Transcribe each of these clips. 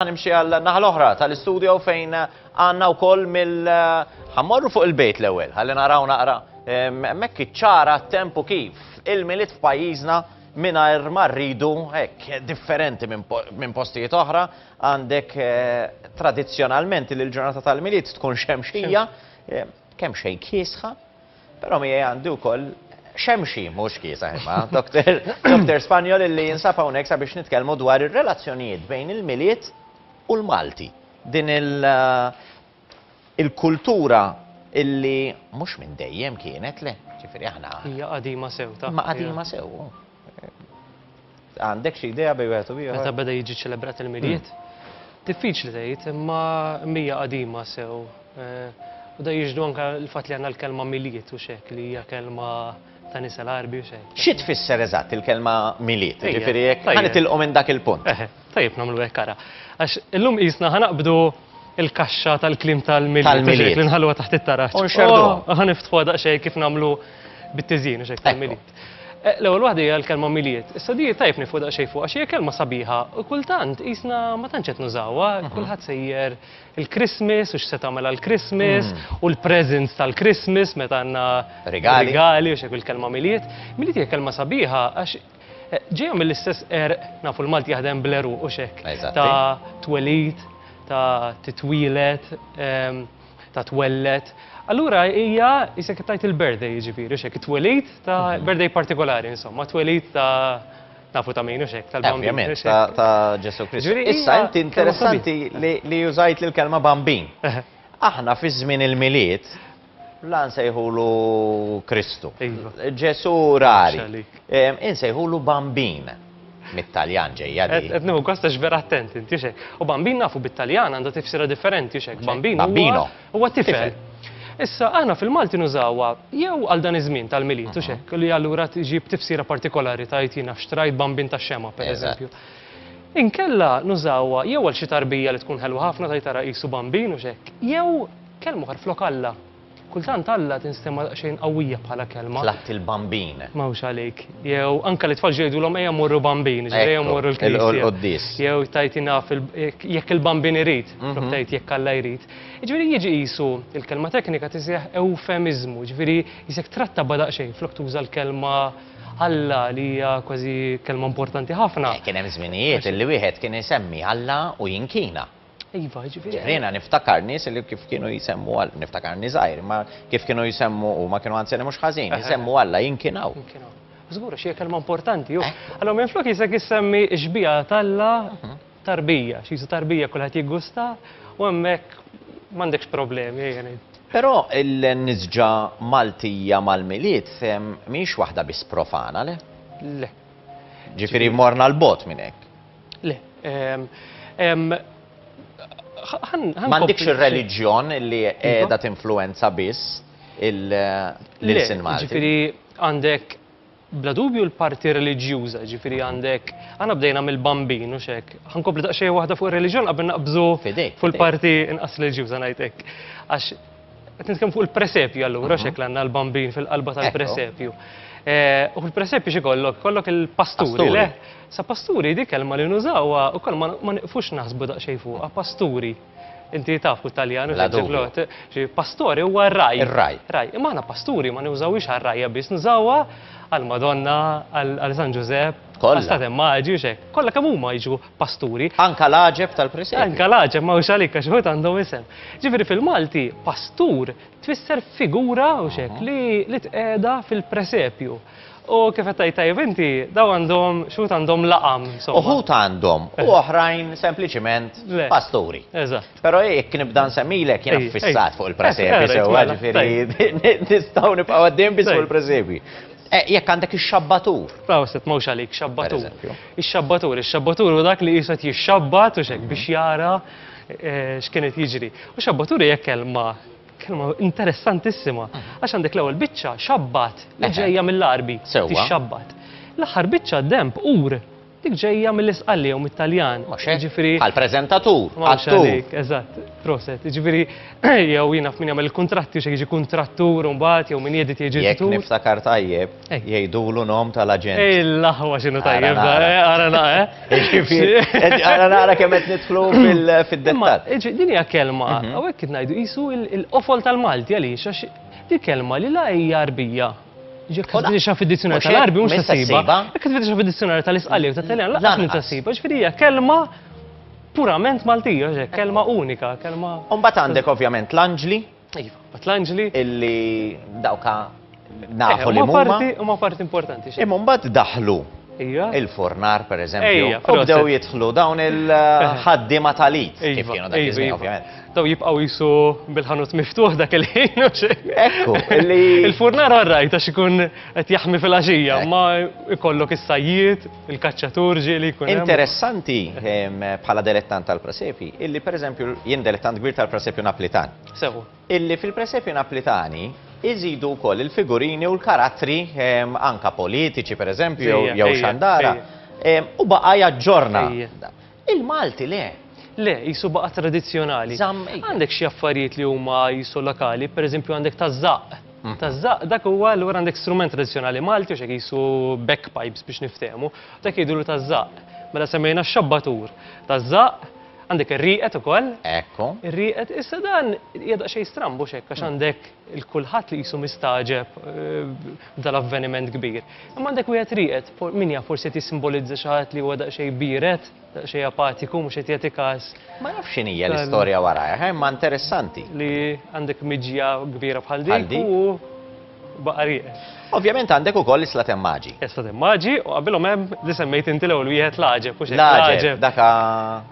Nimxi għal naħa l-oħra tal-istudio fejn għanna u koll mill ħammorru fuq il-bejt l-ewel, għalli naraw naqra mekk iċċara tempu kif il-miliet f'pajjiżna minna ma rridu hekk differenti minn postijiet oħra għandek eh, tradizzjonalment li l-ġurnata tal-miliet tkun xemxija, eh, kemm xejn kiesħa, Però miegħi għandi wkoll xemxi mhux kiesaħ imma, Doktor Doktor Spanjol illi jinsab hawnhekk sabiex nitkellmu dwar ir-relazzjonijiet bejn il-Milied u l-Malti. Din il- il-kultura illi mhux minn dejjem kienet, le, ġifieri aħna. Hija qadima sew, ta. Imma qadima sew. Għandek xi idea bej wieħed u ieħor? Meta beda jiġi ċelebrat il-miliet? Hmm. Diffiċli tgħid, imma mija qadima sew. Eh, u da jiġdu anka l-fatt li għandna l-kelma miliet u xek li hija kelma ta' nisa l-arbi u xejn. Xi tfisser eżatt il-kelma miliet? Ġifieri jekk ħanet il minn dak il-punt. Eh, tajjeb nagħmlu hekk ara. Għax illum qisna ħanaqbdu il-kaxxa tal-klim tal-miliet. Tal-miliet. Li nħalluha taħt it-taraġ. Unxerdu. Oh, ħaniftħu daqsxejn kif nagħmlu bit-tiżin u xejn tal-miliet. Eh, l-ewwel waħda hija l-kelma miliet. Issa di tajb nifu daqsxejn fuq għax hija kelma sabiħa u kultant qisna ma tantx qed nużawha, mhm. kulħadd sejjer il-Christmas u x'se tagħmel għall-Christmas mhm. u l-presents tal-Christmas meta għandna regali u xek il-kelma miliet. Miliet hija kelma sabiħa għax eh, ġejja mill-istess er nafu l-Malti jaħdem bleru u xek ta' twelid, ta' titwilet, ehm, ta' twelled. Allura hija jisek kif tajt il-birthday jiġifieri xek it-twelid ta' mhm. birthday partikolari insomma, twelid ta' nafu ta' min u xek tal-bambin. ta' Ġesu Kristu. Issa inti interessanti li użajt l-kelma bambin. Aħna fi żmien il-miliet la nsejħulu Kristu. Iva. Ġesu rari. Insejħulu bambin. Mit-Taljan ġejja di. Qed nieħu gost għax vera attent inti xek. U bambin nafu bit-Taljan għandha tifsira differenti xek. Bambin Bambino. huwa tifel. Issa aħna fil-Malti nużawha jew għal dan iż-żmien tal-milied u xek li allura tġib tifsira partikolari tgħid jien nafx trajt bambin tax-xemgħa pereżempju. Inkella nużawha jew għal xi tarbija li tkun ħelwa ħafna tgħid ara qisu bambin u xek, jew kelma oħra flok Alla. Kultant Alla tinstema' daqsxejn qawwija bħala kelma. Tlatt il-Bambin. Ma hux għalik. Jew anke l-itfal ġu jgħidulhom ejja mmorru Bambin, jiġifieri ejja mmorru l-Knisja. Jew tgħid jien naf jekk il-Bambin irid, flok tgħid jekk Alla jrid. Jiġifieri jiġi qisu il-kelma teknika tiseħħ ewfemiżmu, jiġifieri qisek trattaba daqsxejn flok tuża l-kelma Alla li hija kważi kelma importanti ħafna. Kien hemm żminijiet li wieħed kien isemmi Alla u jinkina. Iva, jiġifieri. Ġifieri jiena niftakar nies li kif kienu jsemmu Alla, niftakar nies żgħir, imma kif kienu jsemmu huma kienu anzjani mhux ħażin, jsemmu Alla jinkinaw. Jinkinaw. Żgur għax hija kelma importanti, hu. Allura minflok Isak isemmi x-xbieha t'Alla tarbija, xi tarbija kulħadd jiggusta u hemmhekk m'għandekx problemi, ejja ngħidu. Però l-nisġa Maltija mal-Milied mhijiex waħda biss profana, le? Le. Ġifieri morna 'l bogħod minn hekk. Le, M'għandikx ir-reliġjon li iva. qiegħda tinfluwenza biss il-lilsin Malti. Ġifieri għandek bla dubju l-parti reliġjuża, ġifieri għandek għana bdejna mill-bambin u xek. Ħankompli daqsxejn waħda fuq ir-reliġjon qabel naqbżu fuq il-parti inqas reliġjuża ngħid hekk. Għax Qed nitkellmu fuq il-presepju allura x'hekk għandna l-bambin fil-qalba tal-presepju. Eh, u fil-presepju xi kollok? Kollok il-pasturi, le? Sa pasturi dik kelma li nużawha ukoll ma niqfux naħsbu daqsxejn fuqha, pasturi. Inti taf fuq Taljan, ġiblot, pastori huwa raj. Raj. Raj. Imma aħna pasturi ma nużawhiex għar-rajja biss, nużawha għal-Madonna, għal-San Ġużepp, għal-Stat Immaġi, xek. Kollha kemm huma jiġu pasturi. Anka l-għaġeb tal-presepju. Anka l-għaġeb, ma hux għalik għax uħud għandhom isem. Ġifieri fil-Malti, pastur tfisser figura u xek li tqeda fil-presepju. U kif qed tgħid tajjeb inti, daw għandhom x'uħud għandhom laqam. Uħud għandhom u eh. oħrajn sempliċiment pasturi. Eżatt. Però jekk nibda nsemmilek jiena fissat fuq il-presepju eh, sewwa eh, ġifieri nistgħu nibqgħu għaddejjem biss fuq il-presepju. Jekk għandek ix-xabbatur. Proset, mhux għalik xabbatur. Ix-xabbatur, ix-xabbatur hu dak li qisu qed jixxabbat u x'hekk biex jara eh, x'kien qed jiġri. U xabbatur hija kelma kelma interessantissima għax għandek l-ewwel biċċa xabbat li ġejja mill-Arbi tixxabbat. L-aħħar biċċa demp ur dik ġejja mill-Isqalli jew mit-Taljan. Ġifieri għal preżentatur, attur. Eżatt, proset. Ġifieri jew jiena f'min jagħmel il-kuntratti xi jiġi kuntrattur u mbagħad jew min jedit jiġi Jekk niftakar tajjeb, Hekk jgħidulu nom tal-aġent. Ej, l-aħwa xinu tajjeb da, għara naqra. Għara naqra kemm qed nidħlu fid-dettal. Din hija kelma, mhm. hawnhekk kif ngħidu qisu l-qofol tal-Malti għaliex għax di kelma li la hija arbija. Ġek tfiddi xa fid-dizzjonarju tal-arbi mhux tasiba. Jekk tfiddi xa fid-dizzjonarju tal-isqali u tat-Taljan laqas minn tasiba, ġifieri hija kelma purament Maltija, kelma unika, kelma. Umbagħad għandek ovvjament l-anġli, Iva, bat l-anġli. Illi dawka nafu li huma. Huma parti importanti. Imma mbagħad daħlu Ija. Il-fornar, per eżempju. Ija, u bdew jitħlu dawn il-ħaddima tal-it. Kif kienu dak iż ovvjament. Daw jibqaw jisu bil-ħanut miftuħ dak il-ħin. Ekku, Il-fornar għarrajt għax ikun qed jaħmi fil-għaxija, ma ikollok is-sajjiet. il-kaċċatur ġie li jkun. Interessanti bħala delettant tal-presepi, illi per eżempju jien delettant kbir tal-presepju naplitan. Sewu. Illi fil-presepju naplitani iżidu wkoll il-figurini u l-karattri anka politiċi per eżempju jew xandara u baqa' jaġġorna. Il-Malti le! Le, qisu baqa' tradizzjonali. Żamm id. Għandek xi affarijiet li huma qisu lokali, pereżempju għandek taż-żaqq. Taż-żaqq dak huwa allura għandek strument tradizzjonali Malti għax hekk qisu bagpipes biex niftehmu, dak jgħidulu taż-żaqq. Mela semmejna x-xabbatur. Taż-żaqq, għandek ir-rieqed ukoll. Ekku. Ir-rieqed, issa dan hija daqsxejn stramb hux hekk għax għandek il-kulħadd li qisu mistagħġeb b'dal-avveniment kbir. Imma għandek wieħed rieqed, min jaf forsi qed jissimbolizza xi ħadd li huwa daqsxejn biered, daqsxejn apatiku, mhux qed jagħti każ. Ma nafx x'inhi hija l-istorja warajha, imma interessanti. Li għandek miġja kbira bħal dik u baqa' rieqed. Ovvjament għandek ukoll is-slat hemm maġi. Is-slat hemm maġi u qabilhom hemm li semmejt inti l-ewwel wieħed l-għaġeb u xejn. L-għaġeb daka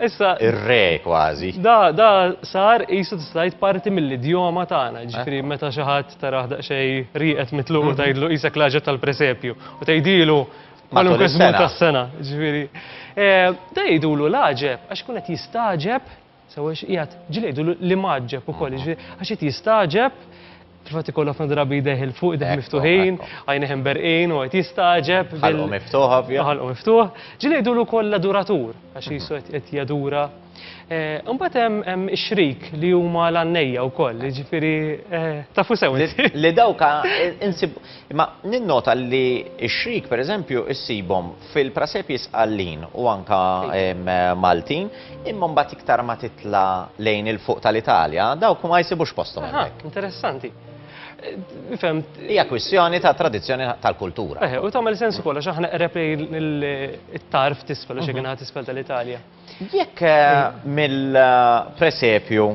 issa ir-re kważi. Da da sar qisu tista' tgħid parti mill-idjoma tagħna, ġifieri meta xi ħadd Taraħ daqsxejn rieqed mitluq u tgħidlu qisek l-għaġeb tal-presepju. U tgħidilu kwalunkwe żmien tas-sena. Ġifieri, da jgħidulu l-għaġeb għax ikun qed jistagħġeb, sewwa x'qiegħed, ġieli jgħidulu l-imgħaġġeb ukoll, jiġifieri għax qed jistagħġeb, fil-fatt ikollu ħafna drabi jdejh 'il fuq, jdejh miftuħin, għajnejh imberqin u qed jistagħġeb. Ħalqu miftuħ, ovvja. Ħalqu miftuħ. Ġieli jgħidulu wkoll l-aduratur, għax qisu qed jadura. Imbagħad hemm hemm ix-xrik li huma l-għannejja wkoll, jiġifieri tafu sew inti. Li dawk insib imma ninnota li x-xrik pereżempju ssibhom fil-prasepji Sqallin u anke Maltin, imma mbagħad iktar ma titla' lejn il-fuq tal-Italja dawk ma jsibux posthom hemmhekk. Interessanti. Fimt. Hija kwistjoni ta' tradizzjoni tal-kultura. U tagħmel sens ukoll għax aħna qreb lejn it-tarf t'isfel għax hekk inha t'isfel tal-Italja. Jekk mill-presepju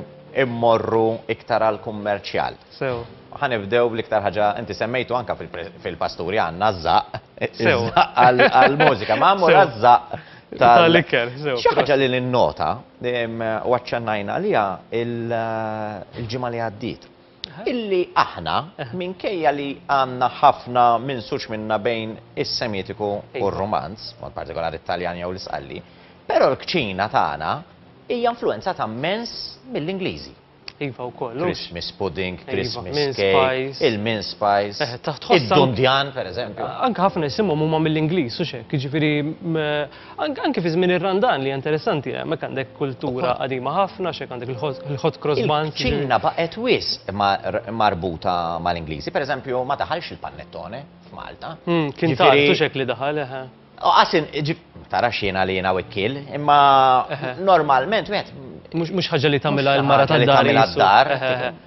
immorru iktar għall-kummerċjal. Sew. Ħanibdew bl-iktar ħaġa inti semmejtu anke fil-pasturi għandna ż-żaqq. Sew. Għall-mużika, ma mmur għaż-żaqq tal-ikel. Xi ħaġa li ninnota u aċċennajna għaliha l-ġimgħa li għaddiet. illi aħna, minkejja li għandna ħafna minsuġ minna bejn is-Semitiku u r-Rumanz, b'mod partikolari t-Taljan jew l-Isqalli, però l-kċina tagħna hija influwenzata mmens mill-Ingliżi. Iva, wkoll, hux? Christmas pudding, Christmas cake, mince pies. il-mince spice, Eh, ta' tħoss ank- id-dundjan, pereżempju. Anke ħafna jisimhom huma mill-Ingliż, hux hekk? Jiġifieri, mm, Anke fi żmien ir-Randan li hija interessanti, hemmhekk għandek kultura qadima ħafna, x'hekk għandek il-hot cross buns. Iċ-Ċina baqgħet wisq marbuta mal-Ingliżi, pereżempju ma daħalx il-pannettone f'Malta. Kien tard u x'hekk li daħal, eħe. Qasin, tara x'jiena li jiena wikkiel, imma normalment wieħed. Mhux ħaġa li tagħmilha l-mara tad-dar. Mhux ħaġa li tagħmilha d-dar.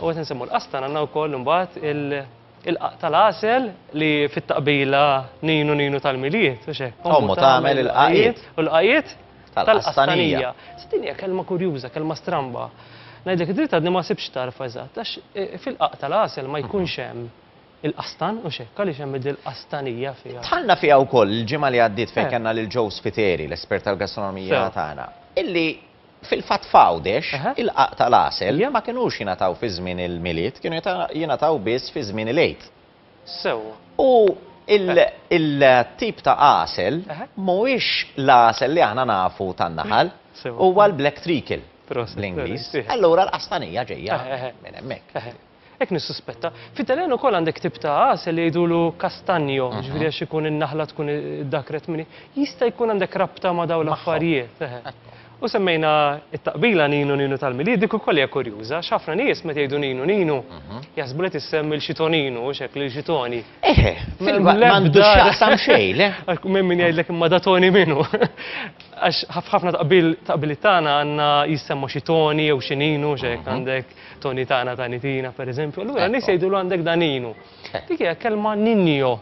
U qed insemmu l-qastan għandna wkoll imbagħad il-qaq tal-għasel li fit-taqbila ninu ninu tal-milied u x'hekk. Ommu tagħmel il-qaqiet. U l-qaqiet tal-qastanija. Din hija kelma kurjuża, kelma stramba. Ngħidlek id-dritt għadni ma sibx tarf eżatt għax e, fil-qaq tal-għasel ma jkunx hemm il-qastan u xekk għaliex hemm il-qastanija fiha. Tħallna fiha wkoll il-ġimgħa li għaddiet fejn eh. kellna lil Joe Spiteri, l-espert tal-gastronomija tagħna, illi Fil-fatt f'Għawdex, il-qaq tal-għasel ma kinux jingħataw fi żmien il-Milied, kienu jingħataw biss fi żmien il-Għid. U il-tip ta' għasel mhuwiex l-għasel li aħna nafu tan-naħal, huwa l-black treacle bl-Ingliż. Allura l-qastanija ġejja minn hemmhekk. Hekk nissuspetta. Fit-Taljan ukoll għandek tip ta' għasel li jgħidulu castagno, jiġifieri għax ikun in-naħla tkun iddakkret minn hi. Jista' jkun għandek rabta ma' dawn l-affarijiet, eħe. U semmejna t-taqbila Ninu Ninu tal-Milied, dik ukoll hija kurjuża għax ħafna nies meta jgħidu Ninu Ninu jaħsbu li qed issemmi lil xi Toninu, hux hekk, lil xi Toni. Eħe, fil-fatt m'għandu x'jaqsam xejn, le? M'hemm min jgħidlek imma da Toni minu? Għax f'ħafna taqbil, taqbiliet tagħna għandna jissemma xi Toni jew xi Ninu, hux hekk, għandek. Toni tana tani tina, per eżempju, allura nies jgħidulu għandek daninu. Dik hija kelma ninjo.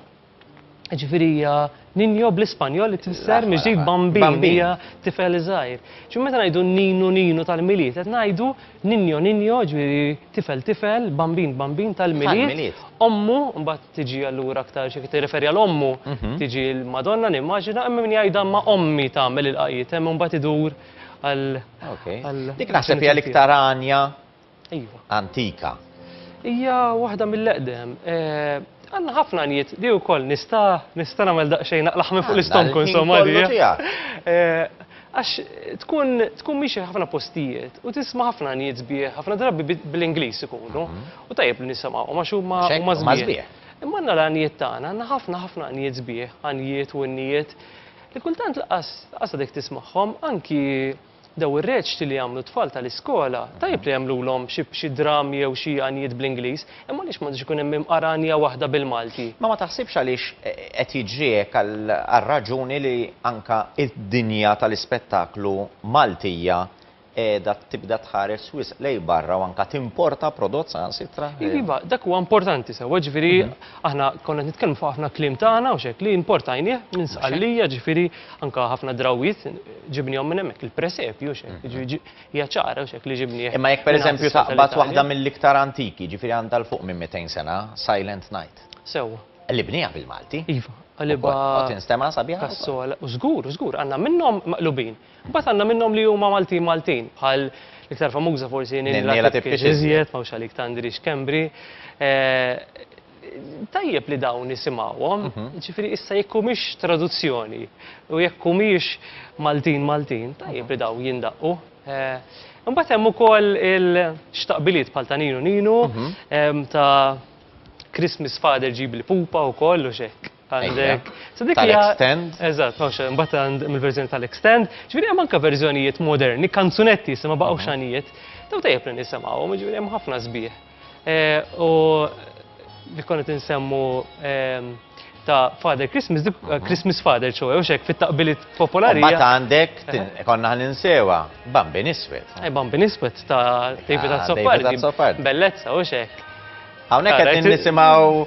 Ġifieri hija ninjo bl-Ispanjol li tfisser miġdid bambin, hija tifel żgħir. Ġi meta ngħidu ninu ninu tal-Milied, qed ngħidu ninjo ninjo, ġifieri tifel tifel, bambin bambin tal-Milied. Ommu mbagħad tiġi allura aktar xi tirreferi għal ommu, tiġi l-Madonna nimmaġina, hemm min jgħidha ma' ommi tagħmel il-qajiet, hemm imbagħad idur għal. Dik naħseb hija l-iktar għanja iva. antika. Hija waħda mill-eqdem. Eh, għanna ħafna njiet, di u koll, nista, nista namel daqxejn naqlaħ minn fuq l-istonku, insomma, di. Eh, għax tkun, tkun miexi ħafna postijiet u tisma ħafna njiet zbieħ, ħafna drabi bl-Inglis ikunu, mhm. u tajjeb li nisama, u maċu ma zbieħ. Imma għanna l-għanijiet tagħna, għanna ħafna ħafna għanijiet zbieħ, għanijiet u għanijiet. Li kultant laqqas għadek tismagħhom, anki daw ir-reċti li jagħmlu t-tfal tal-iskola, tajjeb li jagħmlulhom xi dramm jew xi għanjiet bl-Ingliż, imma għaliex m'għandux ikun hemm imqar għanja waħda bil-Malti? Ma ma taħsibx għaliex qed jiġri hekk għal raġuni li anke d-dinja tal-ispettaklu Maltija qiegħda tibda tħares wisq lejn barra u anke timporta prodott saħansitra. Iva, dak huwa importanti sewwa, ġifieri aħna konna qed nitkellmu fuq ħafna kliem tagħna u x'hekk li importajnieh minn Sqallija, ġifieri anke ħafna drawwiet ġibnihom minn hemmhekk, il-presepju u x'hekk, jiġifieri hija ċara u x'hekk li ġibnieh. Imma jekk pereżempju taqbad waħda mill-iktar antiki, ġifieri għandha 'l fuq minn 200 sena, Silent Night. Sewwa. Li bnieha bil-Malti. Iva, qalibha. U tinstema' sabiħa. Kassola, u żgur, u żgur, għandna minnhom maqlubin. Imbagħad għandna minnhom li huma Maltin Maltin, bħal l-iktar famuża forsi Nenniela Tipkix iżjed, mawx għalik Tandri Schembri. Tajjeb li dawn nisimgħuhom, ġifieri issa jekk humiex traduzzjoni u jekk humiex Maltin Maltin, tajjeb li dawn jindaqqu. Imbagħad hemm ukoll il-xtaqbiliet bħal ta' Ninu Ninu, ta' Christmas Father Ġibli Pupa wkoll u x'hekk. Għandek. Tal-extend. Eżatt, ma nafx, mbagħad għand mill-verżjoni tal-extend. Ġifieri hemm anke verżjonijiet moderni, kanzunetti issa ma baqgħux xanijiet. Daw tajjeb li nisimgħuhom, ġifieri hemm ħafna sbieħ. Eh, u li konna tinsemmu ehm, ta' Father Christmas, dik eh, Christmas Father ċoħe, u xek fit-taqbilit popolari. Ma ta' għandek, eh. konna għan insewa, Bambi Niswet. Bambi Niswet ta' David Azzopardi. Bellezza, u xek. Għawnek għed nisimaw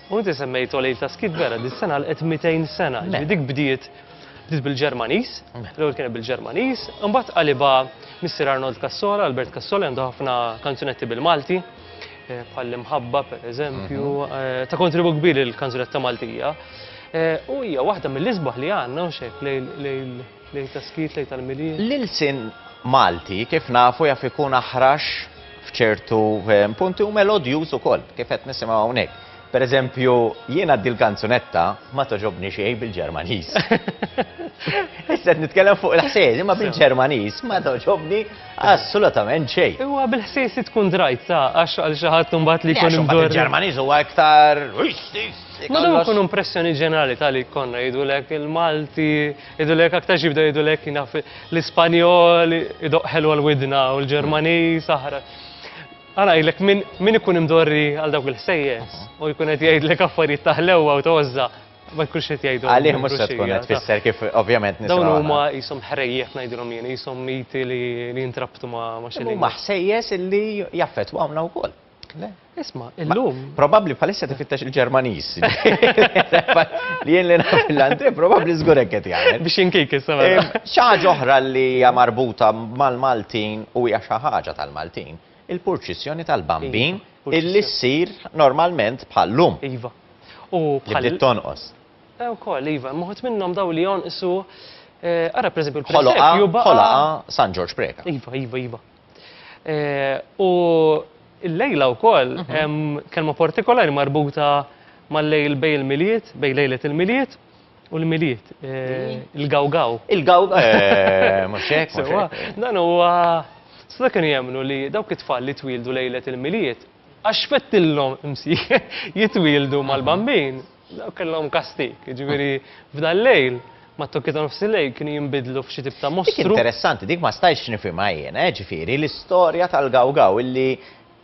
U inti semmejt Olejl ta' Skiet vera, dis-sena għalqet 200 sena. Ġifieri dik bdiet bdiet bil-Ġermaniż, l-ewwel kienet bil-Ġermaniż, imbagħad qalibha Missier Arnold Cassola, Albert Cassola, għandu ħafna kanzunetti bil-Malti, bħall-Imħabba pereżempju, ta' kontribut kbir lill-kanzunetta Maltija. U hija waħda mill-isbaħ li għandna hawn x'hekk lejl. Lejl ta' skiet, lejl tal-Milied. L-ilsien Malti kif nafu jaf ikun aħrax f'ċertu ehm, punti u melodjuż ukoll, kif qed nisimgħu hawnhekk. Per eżempju, jiena dil kanzunetta ma toġobni xejn bil-Ġermaniż. Issa nitkellem fuq il-ħsejs, imma bil-Ġermaniż ma toġobni assolutament xejn. Huwa bil-ħsejs li tkun drajt sa għax għal xi ħadd imbagħad li jkun imdur. Il-Ġermaniż huwa iktar. Ma dum ikun impressjoni ġenerali tal-li konna jidulek il-Malti Jgħidulek aktarx jibdew jgħidulek naf l-Ispanjol idoq ħelu għal widna u l-Ġermaniż aħra. Għana jgħidlek min ikun imdorri għal dawk il-ħsejjes u jkun qed jgħidlek affarijiet taħlewa u tożża ma jkunx qed jgħidu. Għalih mhux se tkun qed tfisser kif ovvjament nisma. Dawn huma qishom ħrejjef ngħidilhom jien, qishom miti li jintrabtu ma' xi. Huma ħsejjes illi jaffettwawna wkoll. Le, isma, illum. Probabli bħalissa tifittex il-Ġermanis. Li jien li naf l-anti, probabli zgurek qed jagħmel. Biex inkik issa. Mela. Xaġa oħra li hija marbuta mal-Maltin u hija xi ħaġa tal-Maltin, il-purċissjoni tal-bambin iva, illi ssir normalment bħal-lum. Iva. U bħal. Li tonqos. Eh, u koll, iva, moħt minnom daw li jonqsu, eh, ara per eżempju, l-Ħoloqa, San Ġorġ Preka. Iva, iva, iva. U l-lejla wkoll hemm kelma partikolari marbuta mal-lejl bejn il-Milied, bejn lejlet il-Milied u l-Milied, il-gawgaw. Il-gawgaw, mhux hekk, mhux hekk. Dan huwa, seta' kienu jemmnu li dawk it-tfal li twieldu lejlet il-Milied, għax fettilhom imsieħeb jitwieldu mal-bambin, Dawk kellhom kastig, jiġifieri f'dan l-lejl, mat-tokki ta' nofsillejl kienu jinbidlu f'xi tip ta' mostru. Dik interessanti, dik ma stajtx nifhimha jien, eh, ġifieri l-istorja tal-Gaw Gaw illi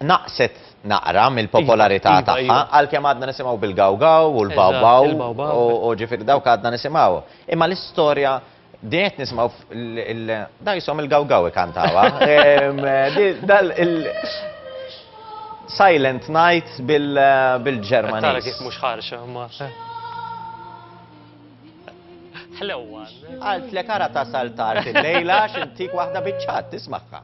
naqset naqra mill-popolarità tagħha, għalkemm għadna nisimgħu bil-Gaw Gaw u l-Baw Baw u ġifieri dawk għadna nisimgħuhom. Imma l-istorja Din qed nismaw dajshom il-gawgaw ikantawha. Dal il Silent Night bil-Ġermaniż. Tara kif mhux ħarxa ma. Ħlewwa. Għaltlek ara tasal tard il-lejla x'intik waħda biċ-ċat tismagħha.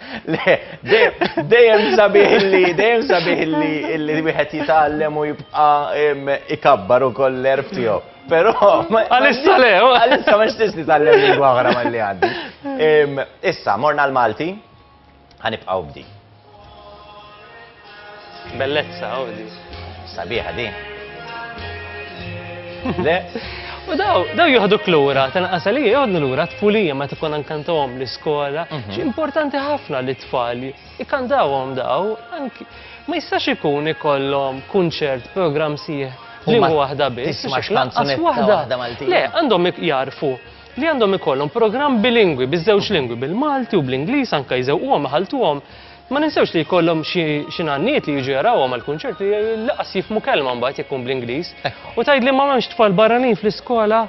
Le, dejjem sabiħ li, dejjem sabiħ li li wieħed jitgħallem u jibqa' ikabbar ukoll l-erf tiegħu. Però għalissa le, oh. għalissa ma xtiex nitgħallem lingwa oħra malli għandi. Issa, morna l-Malti, ħanibqgħu bdi. Bellezza, oh di. Sabiħa di. Le. U daw, daw juħdu klura, tanqas li juħdu lura tfulija ma tkun ankantawhom l-iskola. Mhm. Xi importanti ħafna li tfal ikantawhom daw, anki ma jistax ikun ikollhom kunċert, programm sieħ li waħda biss. Tismax kanzunetta waħda Maltija. Le, għandhom jarfu li għandhom ikollhom programm bilingwi, biż-żewġ lingwi, bil-Malti u bl-Ingliż anke jżewquhom ħaltuhom Ma ninsewx li jkollhom xi xi nanniet li jiġu jarawhom għall-kunċert li laqas jifhmu kelma mbagħad jekk tkun bl-Ingliż. U tgħidli ma m'hemmx tfal barranin fl-iskola?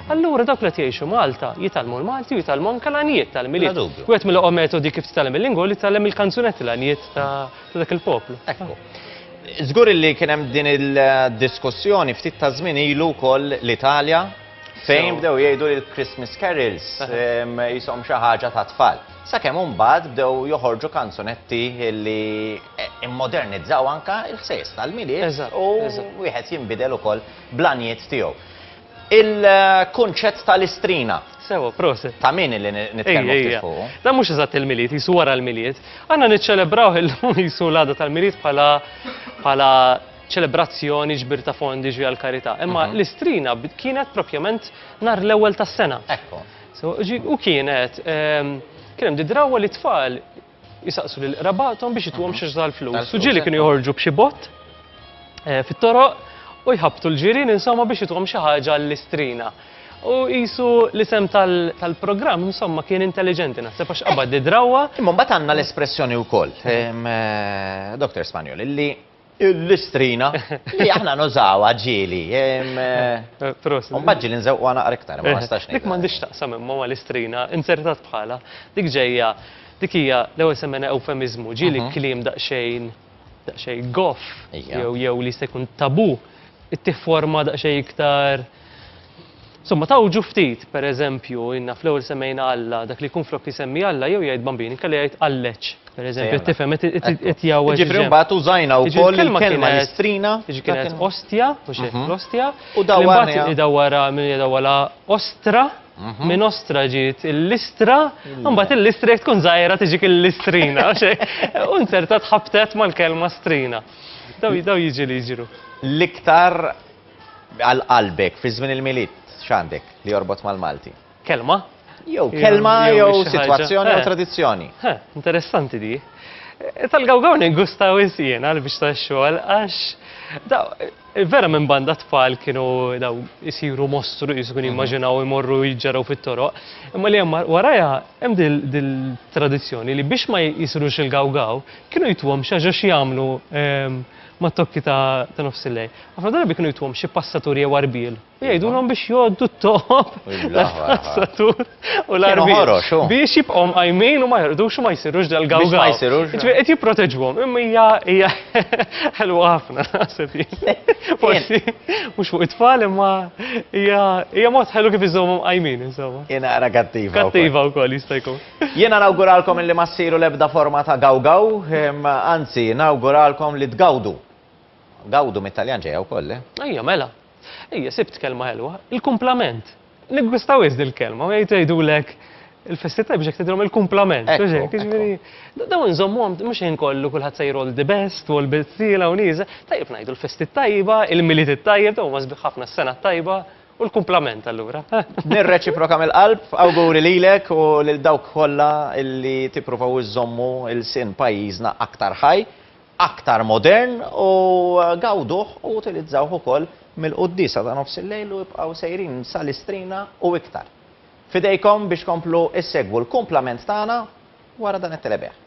Allura dawk li qed jgħixu Malta jitgħallmu l-Malti u jitgħallmu anke l-għanjiet tal-Milied. Bla dubju. Wieħed mill-oqgħa metodi kif titgħallem il-lingwa hu li titgħallem il-kanzunetti l-għanjiet ta' ta' dak il-poplu. Ekku. Żgur illi kien hemm din il-diskussjoni ftit ta' żmien ilu wkoll l-Italja fejn bdew jgħidu li l-Christmas carols ehm, qishom xi ħaġa tat-tfal. Sakemm imbagħad bdew joħorġu kanzunetti li immodernizzaw anke l-ħsejjes tal-Milied u wieħed jinbidel ukoll bl-għanijiet tiegħu. Il-kunċett tal-istrina. Sewwa, prosit. Ta' min li nitkellmu ftit fuq? Dan mhux eżatt il-Milied, qisu wara l-Milied. Għandna niċċelebrawh illum qisu l-għada tal-Milied bħala ċelebrazzjoni ġbir ta' fondi ġvija l-karità. Imma l-istrina kienet propjament nhar l-ewwel tas-sena. Ekku. U kienet, kien hemm di drawwa li tfal jisaqsu lil qrabathom biex ituhom xi xżal flus. U ġieli kienu joħorġu b'xi bott eh, fit-toroq u jħabbtu l-ġirien insomma biex ituhom xi ħaġa l-istrina. U jisu l-isem tal-programm, insomma, kien intelligenti, naħseb għax qabad di drawa. Imma bat għanna l-espressjoni u koll, eh, Dr. Spanjol, illi Il-listrina li aħna nużawha ġieli. Prost. U mbagħad ġieli nżewqha naqra iktar, ma nistax ngħid. Dik m'għandix taqsam imma ma' listrina, inzertat bħalha. Dik ġejja, dik hija l-ewwel semmejna ewfemiżmu, ġieli kliem daqsxejn, daqsxejn goff jew li jista' jkun tabù, ittieħ forma daqsxejn iktar. Insomma, tgħawġu ftit, per eżempju, inna fl-ewwel semmejna Alla, dak li jkun flok isemmi Alla jew jgħid Bambin, inkella jgħid Alleċ, per eżempju, qed tifhem, qed qed jgħawweġ. Jiġifieri mbagħad użajna wkoll il-kelma listrina. Jiġifieri kienet ostja, mhux hekk, l-ostja. U dawwarniha. Idawwarha, min idawwarha ostra, minn ostra ġiet il-listra, u mbagħad il-listra jekk tkun żgħira tiġik il-listrina, mhux hekk? U inzertat ħabtet mal-kelma strina. Dawn dawn jiġu li jiġru. L-iktar Għal qalbek, fi żmien il-Milied, x'għandek li jorbot mal-Malti? Kelma? Jew kelma, jew sitwazzjoni, jew tradizzjoni. Interessanti di. Tal-gawgaw ningustaw insien għal biex ta' xogħol għax vera minn banda tfal kienu daw isiru mostru jisukun mhm. jimmaġinaw imorru jġaraw fit-toroq. Imma li hemm warajha hemm dil tradizzjoni li biex ma jisrux il-gawgaw kienu jitwom xi ħaġa x'jagħmlu ehm, mat-tokki ta' ta' nofsillejl. Ħafna drabi kienu jtuhom xi passatur jew arbiel u jgħidulhom biex jgħoddu t-toqob tal-passatur u l-arbiel biex jibqgħu mqajmin u ma jorqdux u ma jsirux dal-gawgaw. Jiġifieri qed jipproteġuhom, imma hija hija ħelwa ħafna naħseb jien. Forsi mhux fuq it-tfal imma hija hija mod ħelu kif iżżommhom qajmin insomma. Hija naqra kattiva. Kattiva wkoll jista' jkun. Jiena nawguralkom illi ma ssiru l-ebda forma ta' gawgaw, anzi, nawguralkom li tgawdu. Gawdu mit-Taljan ġejja wkoll, le? Ejja, mela. Ejja, sibt kelma ħelwa, il-kumplament. Niggwista wisq dil-kelma, u jgħidulek il-festi tajba x'hekk tgħidilhom il-kumplament. Mhux hekk, jiġifieri, dawn inżommuhom mhux ħin kollu kulħadd sejjer all the best u all bit tila u nieżel. Tajjeb ngħidu l-festi tajba, il-Milied it-tajjeb, dawn huma sbieħ ħafna, s-sena t-tajba. U l-kumplament allura? Nirreċiproka mill-qalb, awguri lilek u lil dawk kollha li tippruvaw iżżommu lsien pajjiżna aktar ħaj, aktar modern u gawduh u utilizzawh ukoll mill-quddiesa ta' nofs il-lejl u ibqgħu sejrin sal-istrina u iktar. F'idejkom biex tkomplu ssegwu l-kumplament tagħna wara dan it-telebejgħ.